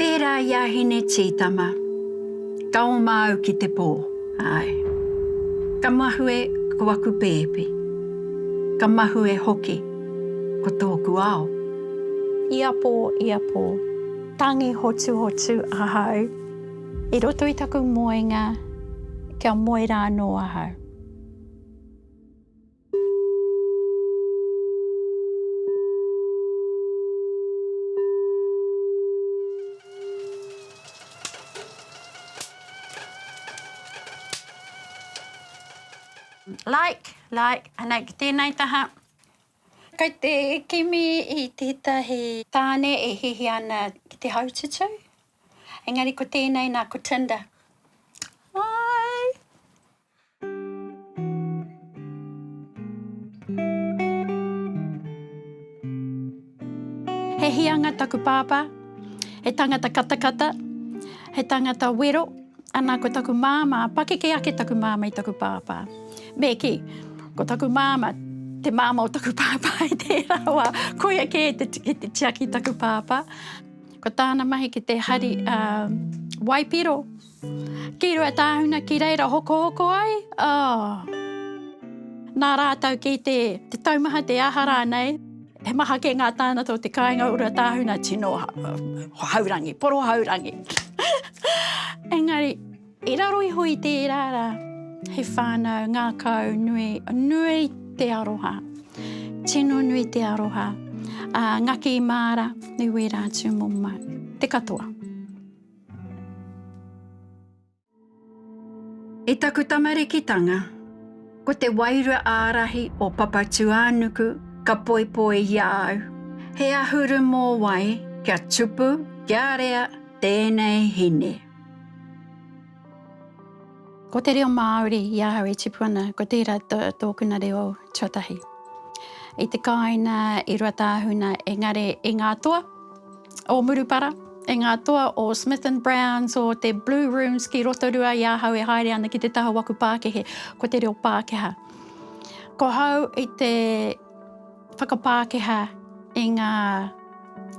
Pērā i a Hine Tītama, ka oma au ki te pō, āe. Ka mahue ko aku pēpi, ka mahue hoki ko tōku ao. Ia pō, ia pō, tangi hotuhotu ahau i roto i taku moenga kia moe rānō ahau. Like, like, anei ki tēnei taha. Kei te kimi i tētahi tāne e hihi ana ki te haututu, engari ko tēnei nā, ko Tinder. Hi! He hīanga taku pāpā, he tangata katakata, he tangata wero, ana ko taku māmā, pakeke ake taku māmā i taku pāpā. Me kī, ko taku māmā, te māmā o taku pāpā i tērā wā, koia kē te, ki te tiaki i taku pāpā. Ko tāna mahi ki te hari, ā, waipiro. Ki Ruatāhuna ki reira hokohoko ai, oh. Nā rātou ki te taumaha te aha rānei, he maha kē ngā tānata o te kāinga o Ruatāhuna tino haurangi, porohaurangi. Engari, i raro iho i tērā rā, he whānau ngākau nui, nui te aroha, tino nui te aroha, a Ngaki Māra, i wērā atu mō mātou, te katoa. I taku tamarikitanga, ko te wairua ārahi o Papatūānuku ka poipoi i a au. He ahuru mōwai kia tupu, kia rea tēnei hine. Ko te reo Māori i ahau e tipu ana, ko tērā tōkuna reo tuatahi. I te kāinga, i Ruatāhuna, engari i ngā toa. o Murupara, e ngā toa o Smith and Browns, o te Blue Rooms ki Rotorua i ahau e haere ana ki te taha waku pākehe, ko te reo Pākehā. Ko hau i te whakapākehā i ngā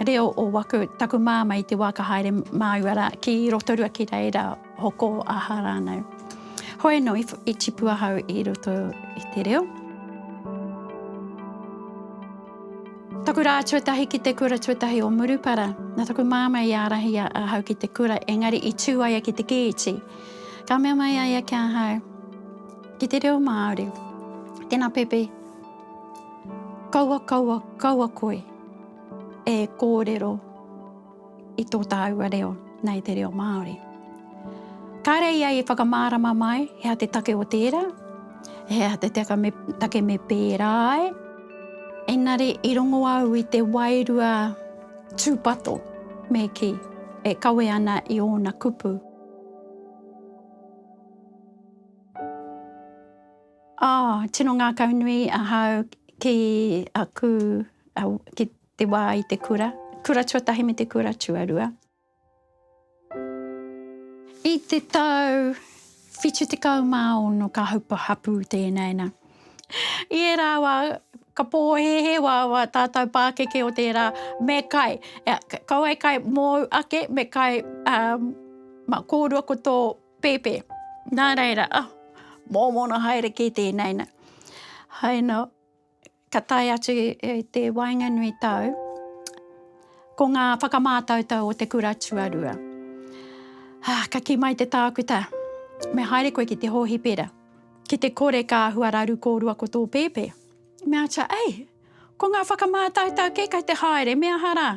reo o waku, taku māma i te wā ka haere māua rā ki Rotorua ki reira. Hoko aha rānei. Hoi anō i tipu ahau i roto i te reo. Taku rā tuatahi ki te kura tuatahi o Murupara, nā taku māmā i ārahi ahau ki te kura, engari i tū ai ia ki te kēti. Ka mea mai a ia ki ahau, ki te reo Māori, tēnā Pepe, kaua, kaua, kaua koe e kōrero. i tō tāua reo nei te reo Māori. Kāre ia i whakamārama mai he aha te take o tērā, he aha te taka me, take me pērā ai. Engari i rongo au i te wairua tūpato me kī e kawe ana i ōna kupu. Oh, tino ngākaunui ahau ki aku, ki te wā i te kura, kura tuatahi me te kura tuarua. I te tau 76 ka haupa hapū tēnei nā. I ērā wā, ka pōhēhē wā wā tātou pākeke o tērā, me kai, ko wai kai mōu ake, me kai um, ma kōrua ko tō pēpē. Nā reira, oh, mōmona haere kē tēnei nā. Hai nō, ka tae atu i te waenganui tau, ko ngā whakamātautau o te kura tuarua. Ah, ka ki mai te tākuta, me haere koe ki te hōhipera, ki te kore ka hua raru kōrua ko tō pēpē. Me acha, ei, ko ngā whakamātautau kē kai te haere, me aha rā?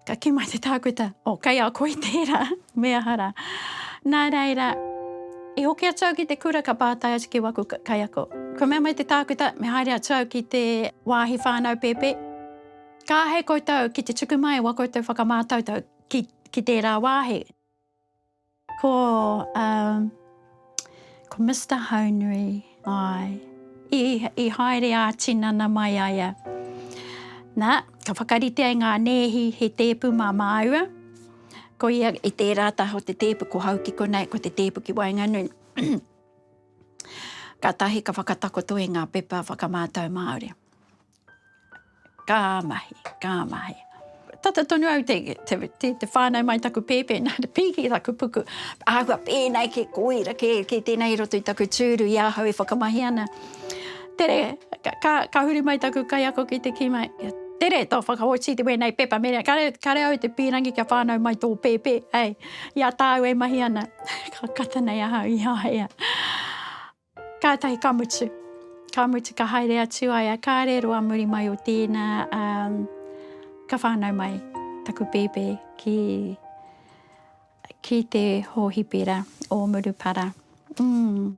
Ka kī mai te tākuta, O, kei a koe tērā, me aha rā. Nā reira, i hoki atu au ki te kura ka pātai atu ki waku kaiako. Ka mea mai te tākuta, me haere atu au ki te wāhi whānau pēpē. Ka āhei koutou ki te tuku mai e wā koutou whakamātautau ki, ki tērā wāhi. Ko umm ko Mister Haunui ae i i haere a tinana mai aia na ka whakarite ai nga neehi he teepu ma maaua ko ia i teera taho te teepu ko hau ki konei ko te teepu ki waenganui katahi ka whakatakoto i nga pepa whakamaatau Maaori. Ka mahi, ka mahi. Tata tonu au te, te, te, te whānau mai taku pēpē, nā te pīki taku puku. Āhua pēnei ke koira, ke, ke tēnei roto i taku tūru i ahau e whakamahi ana. Tere, ka, ka, ka huri mai taku kaiako ki te kima. Tere, tō whakaoti te wēnei pepa mene. Kare, kare au te pīrangi kia whānau mai tō pēpē, hei. Ia tāu e mahi ana. ka kata nei ahau i a ia. Kātahi ka mutu. Ka mutu ka haere atu ai a Kare roa muri mai o tēnā a ka whānau mai taku pēpē ki ki te hōhipera o Murupara. Mm.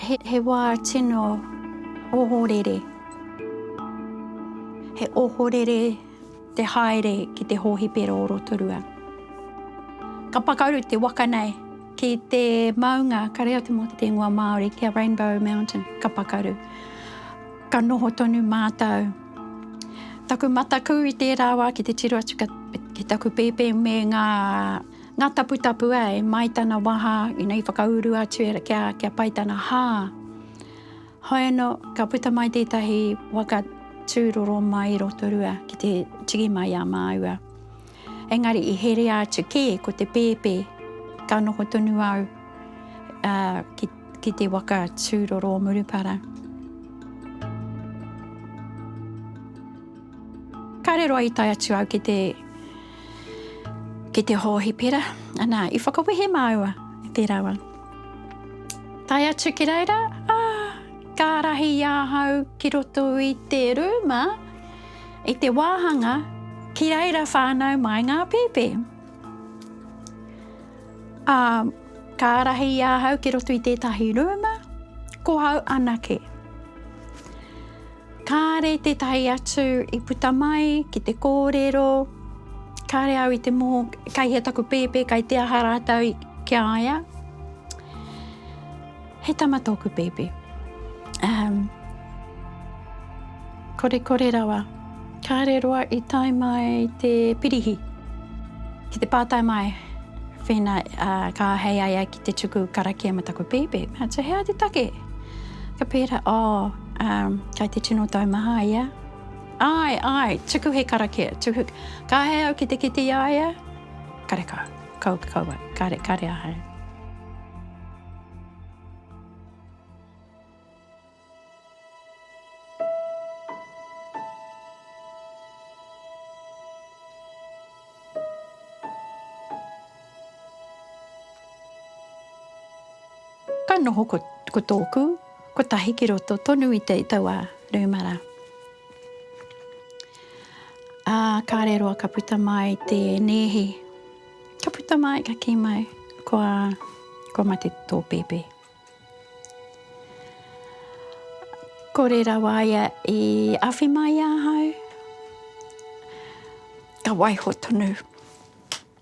He, he wā tino ohorere. He ohorere te haere ki te hōhipera o Rotorua. Ka pakaru te waka nei ki te maunga kare atu mō te tēngua Māori, ki a Rainbow Mountain, ka pakaru. Ka noho tonu mātou Taku mataku i tērā wā ki te tiro atu ki taku pēpē me ngā taputapu ā, e Mai tana waha, ina i whakauru atu e kia, kia pai tana hā. Hoi anō, ka puta mai tētahi waka tūroro mai i Rotorua ki te tiki mai a māua. Engari i herea atu kē ko te pēpē, ka noho tonu au ki te waka tūroro o Murupara. Kāre roa i tae atu au ki te ki te hōhipera, anā, i whakawehe māua i te rawa. Tae atu ki reira, ā, ka rahi i ahau ki roto i te rūma, i te wāhanga ki reira whānau mai ngā pēpē. Ā, ka ārahi i ahau ki roto i tētahi rūma, ko hau anake. Kāre tētahi atu i puta mai ki te kōrero, kāre au i te mō, kei hea taku pēpē, kei te aha rātou ki a ia. He tama tōku pēpi. Um, kore kore rawa. Kāre roa i tae mai te pirihi. Ki te pātai mai, whēna uh, ka hei ai ai ki te tuku karakia ma taku pēpi. Mea, te hea te take? Ka pēra, oh, um, kai te tino tau maha ia. Ai, ai, tuku he karakia. Tuku. Ka hei au ki te kiti ia ia. Karekau. Kau ki kau ai. Kare, kare ahau. Ka noho ko, ko tōku, ko tahi ki roto tonu i te tau a Rūmara. Ā, kāre roa ka puta mai te nēhi. Ka puta mai, ka kī mai, kua, kua mate tō pēpē. Kore rawa ia i awhi mai i ahau. Ka waiho tonu.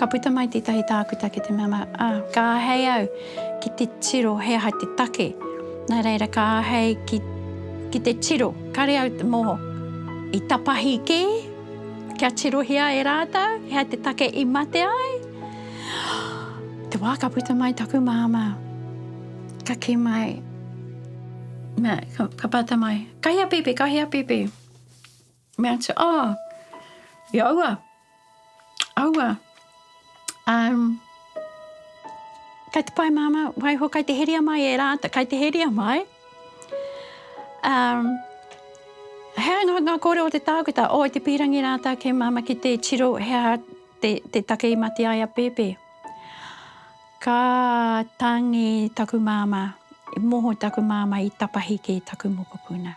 Ka puta mai tētahi tākuta ki te mea mai, ā, ka āhei au ki te tiro he aha te take. Nā reira ka āhei ki, ki te tiro, kāre au te moho. I tapahi kē kia tirohia e rātou he aha te take i mate ai. Te wā ka puta mai taku māmā, ka kī mai, mea, ka, ka pata mai, kahi a Pēpē, kahi a Pēpē. Me atu, oh, i aua, aua, um, kai te pai māma, waiho kai te heria mai e rāta, kai te heria mai. Um, hea ngā, ngā kōrero o te tākuta, o oh, te pīrangi rāta ke māma ki te tiro, hea te, te take i mati ai a Pepe. Ka tangi taku māma, i moho taku māma i tapahi ki taku mokopuna.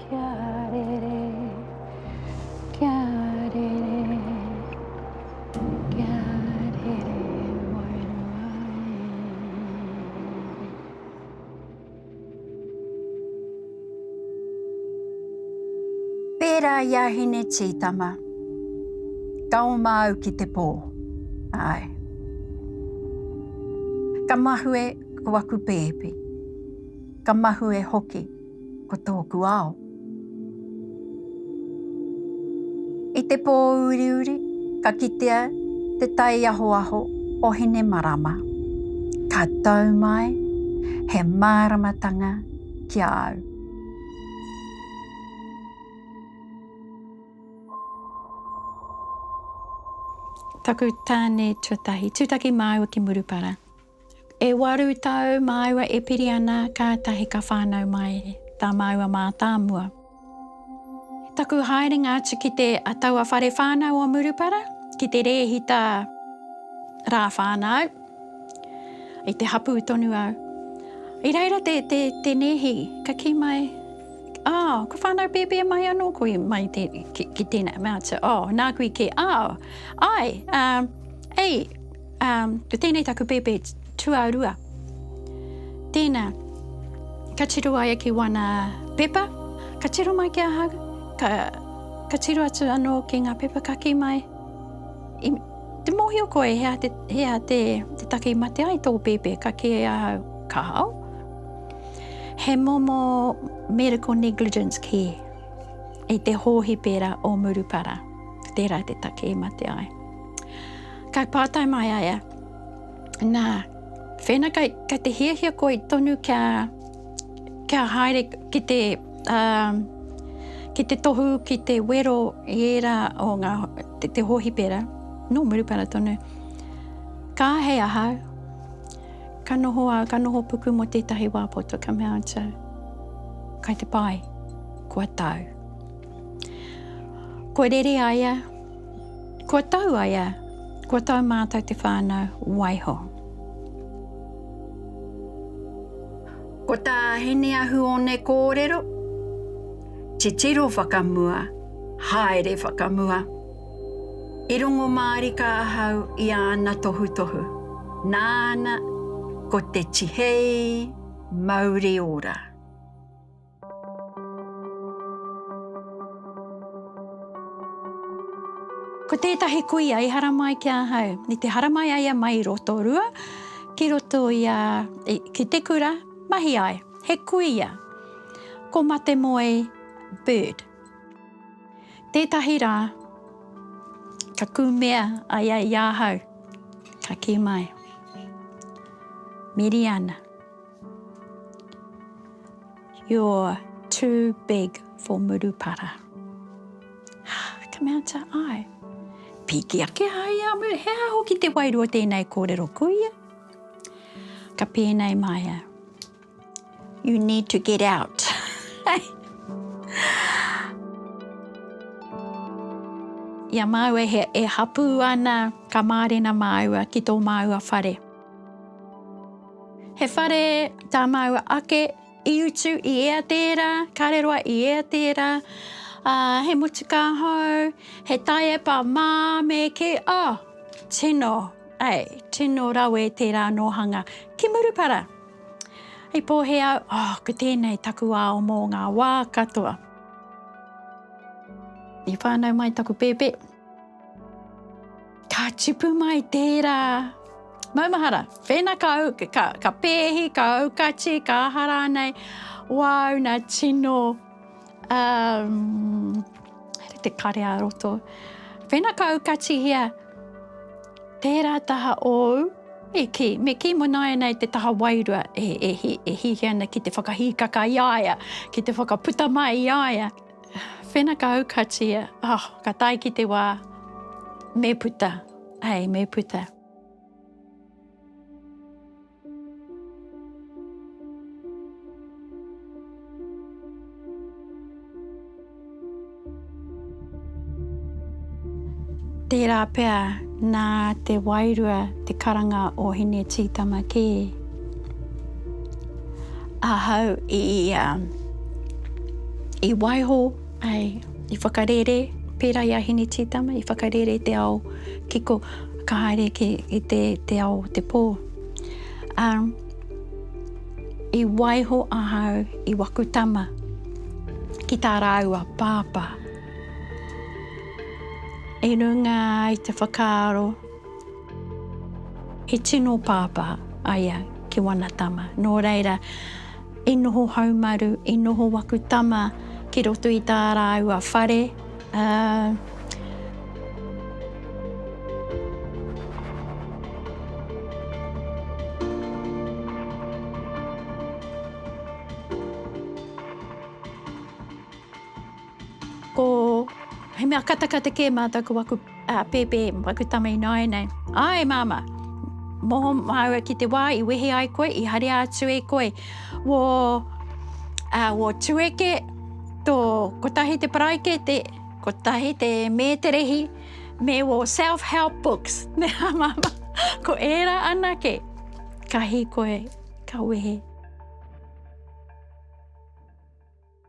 Kia rere, kia rere, kia rere wairua e. Pērā i a Hine Tītama, ka oma au ki te pō, āe. Ka mahue ko aku pēpi, ka mahue hoki Ko tōku ao. I te pō uriuri, ka kitea te tai ahoaho o Hine Marama. Ka tau mai he māramatanga ki a au. Taku tāne tuatahi. Tūtaki māua ki Murupara. E waru tau māua e piri ana kātahi ka whānau mai tā māua mātāmua. I taku haerenga atu ki te a taua whare whānau o Murupara, ki te rēhita rā whānau, i te hapū tonu au. I reira te, te, te nēhi, ka kī mai, oh, ko whānau pēpē mai anō koe mai te, ki, ki tēnā. Mea atu, oh, nāku i kē, oh, ai, uh, ei, Ā, ko tēnei taku pēpē tuarua. Tēnā, ka tiro ai ki wana pepa, ka tiro mai ki ahau, ka, ka tiro atu anō ki ngā pepa ka kī mai, i, te mōhio koe hea te, hea te, te take i mate ai tō pēpē, ka kī ai ahau, kāo, he momo medical negligence kē, i te hōhipera o Murupara, tērā te take i mate ai. Kai pātai mai a ia, Nā, whēna kai, kai te hiahia koe tonu kia, kia haere ki te, um, ki te tohu, ki te wero i ērā o ngā, te, te hōhipera, nō Murupara tonu, ka ahei ahau, ka noho au, ka noho puku mō tētahi wā poto, ka mea atu, kai te pai, kua tau. Kua rere a ia, Kua tau a ia, kua tau mātou te whānau, waiho. Ko tā Hineahuone kōrero, titiro whakamua, haere whakamua. I rongo mārika ahau i āna tohutohu, nāna ko te tihei mauri ora. Ko tētahi kuia i haramai ki ahau, i te haramai ai a Mai Rotorua ki roto i a, ki te kura, mahi ai, he kuia, ko Matemoe Bird. Tētahi rā, ka kumea a ia i ahau, ka kī mai, Miriana. You're too big for Murupara. Hah, come out to I. Piki ake a ia a Muru, he aha hoki te wairua o tēnei kōrero, kuia? Ka pēnei mai a. You need to get out. Ia māua e hapū ana, ka mārena māua ki tō māua whare. He whare tā māua ake, i utu i ea tērā, kāre roa i ea tērā, ā, he motukā hou, he taiepa mā me kī, oh, tino, ei, tino rawe tērā nōhanga. Ki Murupara, i pōhē au, oh, ko tēnei taku ao mō ngā wā katoa. I whānau mai taku pēpē. Ka tipu mai tērā. Maumahara, whēna ka, ka, ka pēhi, ka aukati, ka aha rānei, wāu nā tino, um, here te kare a roto. Whēna ka aukatihia, tērā taha ōu, e ki, me ki mo nāianei te taha wairua e, e, hi, e hihi ana ki te whakahīkaka i aia, ki te whakaputa mai i aia. Whenakau ka tia, oh, ka tae ki te wā, me puta, hei, me puta. Tērā pea nā te wairua te karanga o Hine Tītama kē. Ahau i, um, i waiho, ai, i whakarere, pērā i a Hine Tītama, i whakarere i te ao kiko, ka haere ki, i te, te ao o te pō. Um, i waiho ahau i waku tama ki tā rāua pāpā. I runga i te whakaaro He tino pāpā a ia ki wana tama, nō reira, i noho haumaru, i noho waku tama ki roto i tā rāua whare, ā, Ko, he mea katakata kē mātou ko waku uh, pēpē, waku tama ināianei. Ai, māma, moho māua ki te wā i wehe ai koe, i harea atu e koe. Wō, uh, wō tueke, tō kotahi te paraikete, kotahi te mēterehi, me wō self-help books. Me a māma, ko ērā anake, ka hi koe, ka wehe.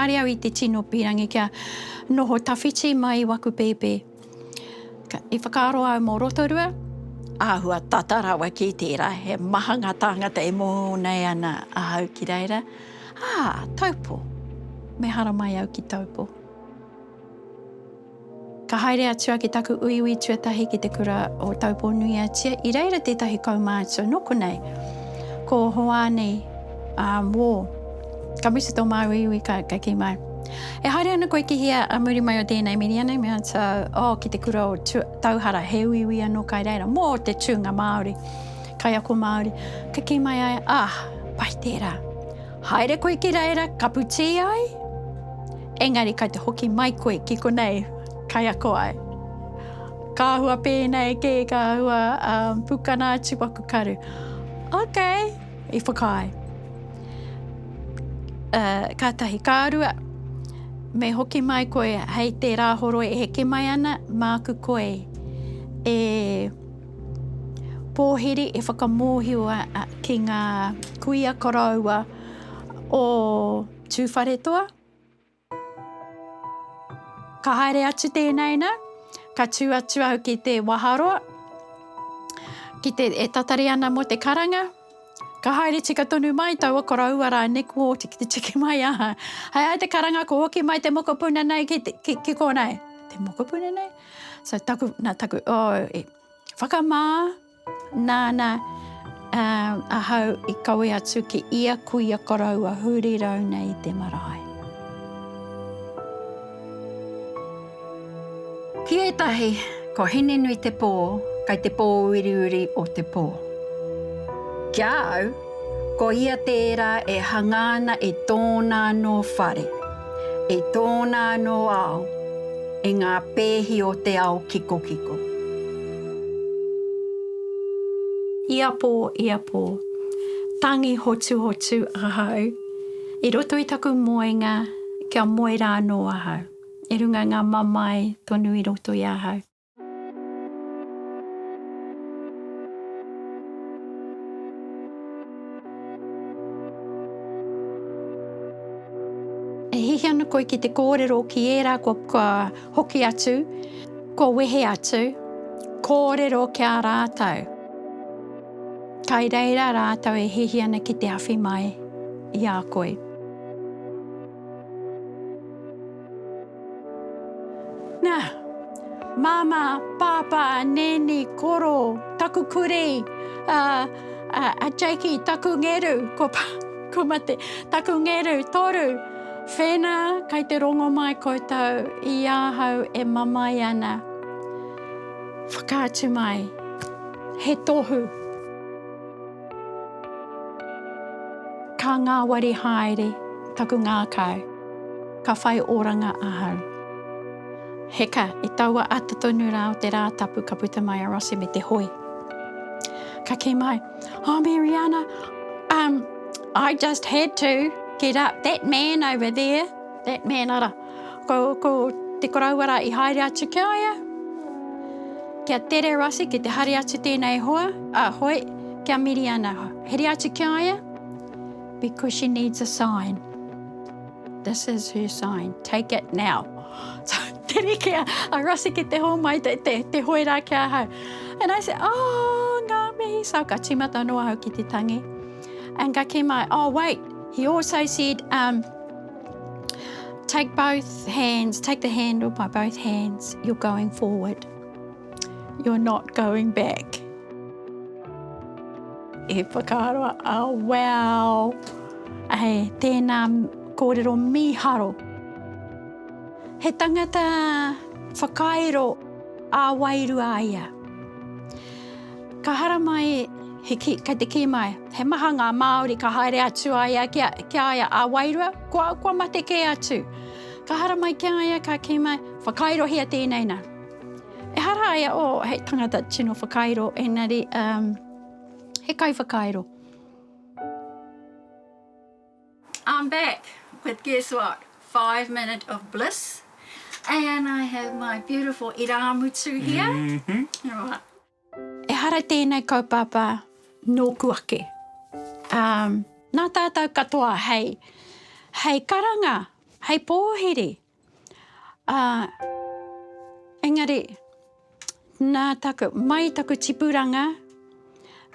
Kare au i te tino pirangi kia noho tawhiti mai i waku pēpē. I whakaaro au mo Rotorua, āhua tata rawa ki tērā, he maha ngā tāngata e moho nei ana ahau ki reira. Ā, Taupo! Me haramai au ki Taupo. Ka haere atu a ki taku uiui tuatahi ki te kura o Taupō-nui-a-Tia, i reira tētahi kaumātua nō konei, ko Hoani, ā, wō, ka mutu tō māu uiui ka, ka kī māu, E haere ana koe ki hea ā muri mai o tēnei miria nei? Me answer, Oh, ki te kura o Tu, Tauhara, he uiui anō kai reira, mō te tūnga Māori, kaiako Māori. Ka kī mai ai, Ah, pai tērā. Haere koe ki reira, kapu tī ai? Engari kai te hoki mai koe ki konei, kaiako ai. Ka āhua pēnei kē, ka āhua um, pukana atu waku karu. Ok, i whakaae. Uh, ka tahi, ka rua, me hoki mai koe hei te rāhoro e heke mai ana, māku koe e pōhiri, e whakamōhiwa ki ngā kuia koroua o Tūwharetoa. Ka haere atu tēnāina, ka tū atu au ki te waharoa, ki te, e tatari ana mō te karanga. Ka haere tika tonu mai taua koroua rā nei kua oti ki te tiki mai aha. Hai hai te karanga kua hoki mai te mokopuna nei ki, ki, ki kōnei. Te mokopuna nei? So taku, nā taku, oh, e, whakamā, Nāna ahau i kawe atu ki ia kuia koroua huri rau nei i te marae. Ki ētahi, ko Hinenuitepō kei te pōuriuri o te pō. Ki a au, ko ia tērā e hangā ana i tōna anō whare. I tōna anō ao, i ngā pēhi o te ao kikokiko. I a pō, i a pō. Tangi hotuhotu ahau i roto i taku moenga kia moe rānō ahau. I runga ngā mamae tonu i roto i ahau. E hihi ana koe ki te kōrero ki ērā kua, kua hoki atu, kua wehe atu, kōrero ki a rātou. Kai reira rātou e hihi ana ki te awhi mai i a koe. Nā, Māmā, Pāpā, Nēni, Koro, taku kurī, a, a, a Jakey, taku ngeru, ko, ko mate, taku ngeru, toru, whēnā, kei te rongo mai koutou i ahau e mamae ana. Whakaatu mai, he tohu. Ka ngāwari haere taku ngākau, ka whai oranga ahau. Heka, i taua ata tonu rā o te Rātapu ka puta mai a Rossi me te hoi. Ka kī mai, Oh Mariana, um, I just had to get up, that man over there, that man ara, Ko, ko te koroua rā i haere atu ki a ia, ki a Tere Rossi, ki te haere atu tēnei hoa, a, hoe, ki a Miriana. Haere atu ki a ia, because she needs a sign. This is her sign. Take it now. Tere ki a, a Rossi ki te hōmai, te, te, te hoe rā ki a hau. And I said, oh, ngā mihi. So ka tīmata noa hau ki te tangi. And ka kī mai, oh, wait, he also said, um, Take both hands, take the handle by both hands. You're going forward. You're not going back. E whakaroa, oh wow. Hey, tēnā kōrero mīharo. He tangata whakairo ā wairua ia. Ka haramai he ki, kei te kī mai, he maha ngā Māori ka haere atu a ia ki a, ki a ia a wairua, kua, kua mate kē atu. Ka haramai ki a ia, ka kī mai, whakairohia tēnei nā. Ehara a ia, oh, hei tangata tino whakairo, engari, um, he kaiwhakairo. I'm back with guess what? Five minute of bliss and I have my beautiful irāmutu here. Mm-hmm. Right. Ehara tēnei kaupapa nōku ake, ā, nā tātou katoa hei, hei karanga, hei pōhiri, ā, engari, nā taku, mai taku tipuranga,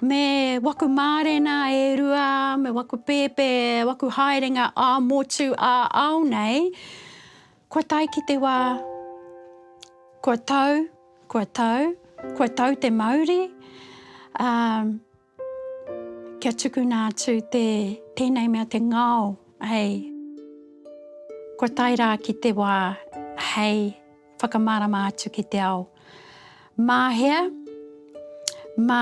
me waku mārena e rua, me waku pēpē, waku haerenga ā-motu, ā-ao nei, Kua tae ki te wā, kua tau, kua tau, kua tau te mauri, ā, kia tukuna atu te, tēnei mea te ngao, hei, kua tae rā ki te wā hei whakamārama atu ki te ao. Mā hea? Mā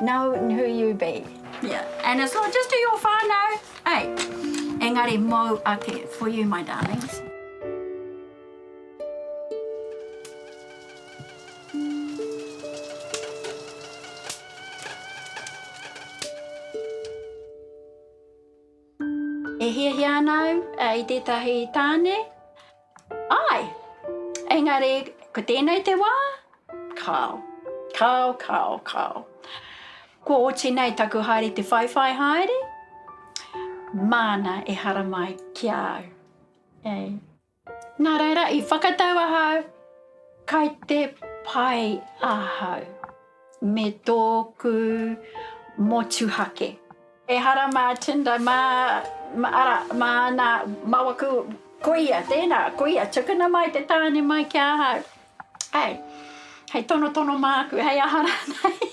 Known who you be. Yeah, and it's not just to your whānau, hey, engari mōu ake, for you my darlings. E hiahia ana au i tētahi tāne. Āe! Engari, ko tēnei te wā, kāo. Kāo, kāo, kāo. Kua oti nei taku haere te whaiwhai haere, māna e haramai ki a au. Ei. Nā reira, i whakatau ahau, kai te pai ahau. me tōku motuhake. Ehara mā Tinder, mā, ara, mā nā, mā waku, koia, tēnā, koia, tukuna mai te tāne mai ki ahau. Hei, hei tonotono māku, hei aha rānei.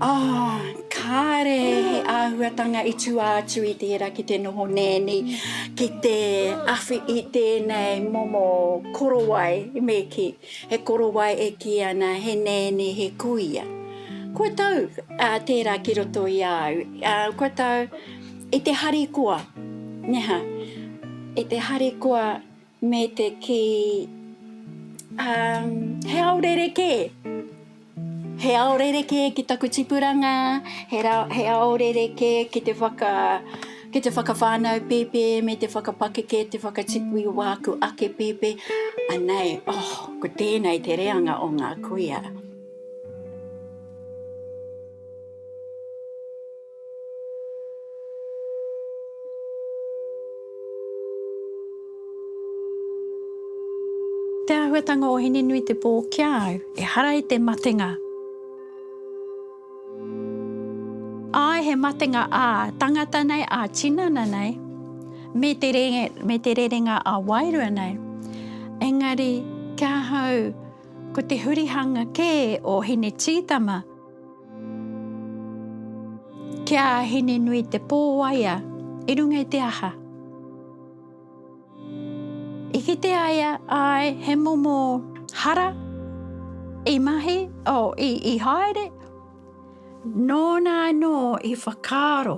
Oh, kāre he āhuatanga i tua atu i tērā ki te noho nēni, ki te awhi i tēnei momo korowai me kī, he korowai e kī ana he nēni, he kuia. Kua tau tērā ki roto i a au, kua tau i te harikoa, neha, i te harikoa. Me te kī, Um, he ao rerekē. He ao rerekē ki taku tipuranga, he, ra, he ao rerekē ki te, whaka, ki te whakawhānau pēpē me te whakapakeke, te whakatipu i wāku ake pēpē. Anei, oh, ko tēnei te reanga o ngā kuia. Te āhuatanga o Hinenuitepō ki a au, ehara i te matenga. Āe, he matenga ā tangata nei, ā tinana nei, me te rerenga ā wairua nei. Engari, ki ahau, ko te hurihanga kē o Hinetītama. Ki a Hininui te pō waea i runga i te aha? I kite ai a, āe, he momo hara i mahi, oh, i, i haere, nōna anō i whakaaro.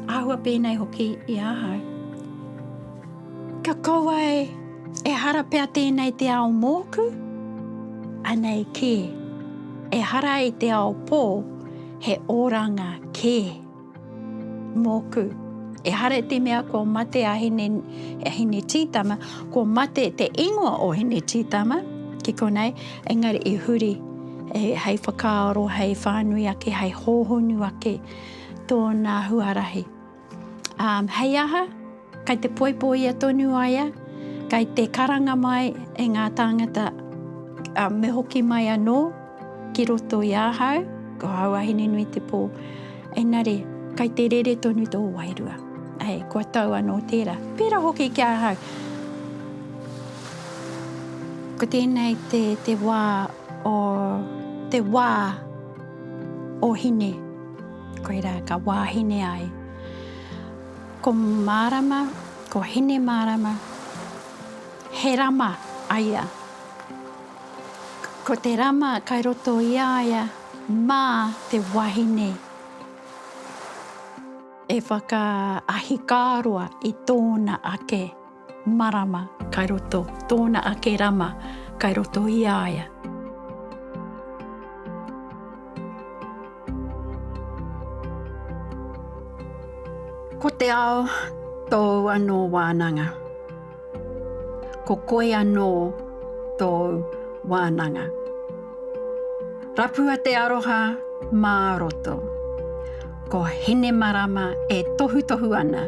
Āhua pēnei hoki i ahau. Ka kaua e, e hara pea tēnei te ao mōku? Anei kē. E hara i te ao pō, he oranga kē. Mōku. E hara te mea kua mate a Hine, a Hine Tītama, kua mate te ingoa o Hine Tītama, ki konei, engari i huri e, hei whakaaro, hei whānui ake, hei hōhonu ake. Tōna huarahi. Ām, hei aha? Kei te poipoia tonu a ia, kei te karanga mai e ngā tāngata, ā, me hoki mai anō ki roto i ahau, ko āu wahine nui te pō. Engari, kei te rere tonu tō wairua. Ē, kua tau anō tērā. Pērā hoki ki ahau. Ko tēnei te, te wā o, te wā. O Hine, koirā ka wāhine ai. Ko Mārama, ko Hinemārama, he rama a ia. Ko te rama kai roto i a ia mā te wahine e whakaahikāroa i tōna ake. Marama, kai roto, tōna ake rama, kai roto i a ia. Ko te ao tōu anō wānanga. Ko koe anō tōu wānanga. Rapua te aroha mā roto. Ko Hinemarama e tohutohu ana.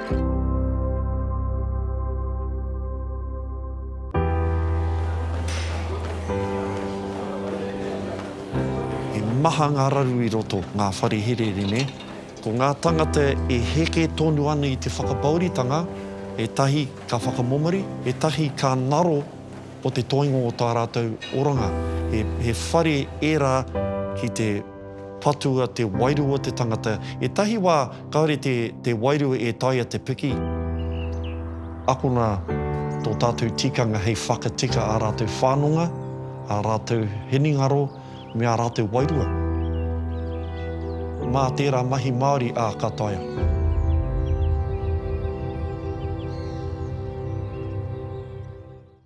He maha ngā raru i roto, ngā whare herehere, nē? Ko ngā tangata e heke tonu ana i te whakapauritanga, ētahi ka whakamomori, ētahi ka ngaro o te toinga o tā rātou oranga. He whare ērā ki te. Patua te wairua te tangata. Etahi wa kaore te te wairua e taia te piki. Akona to tatou tikanga hei whakatika a ratou whanonga, a ratou hiningaro me a ratou wairua. Ma tera mahi Maori a ka taea.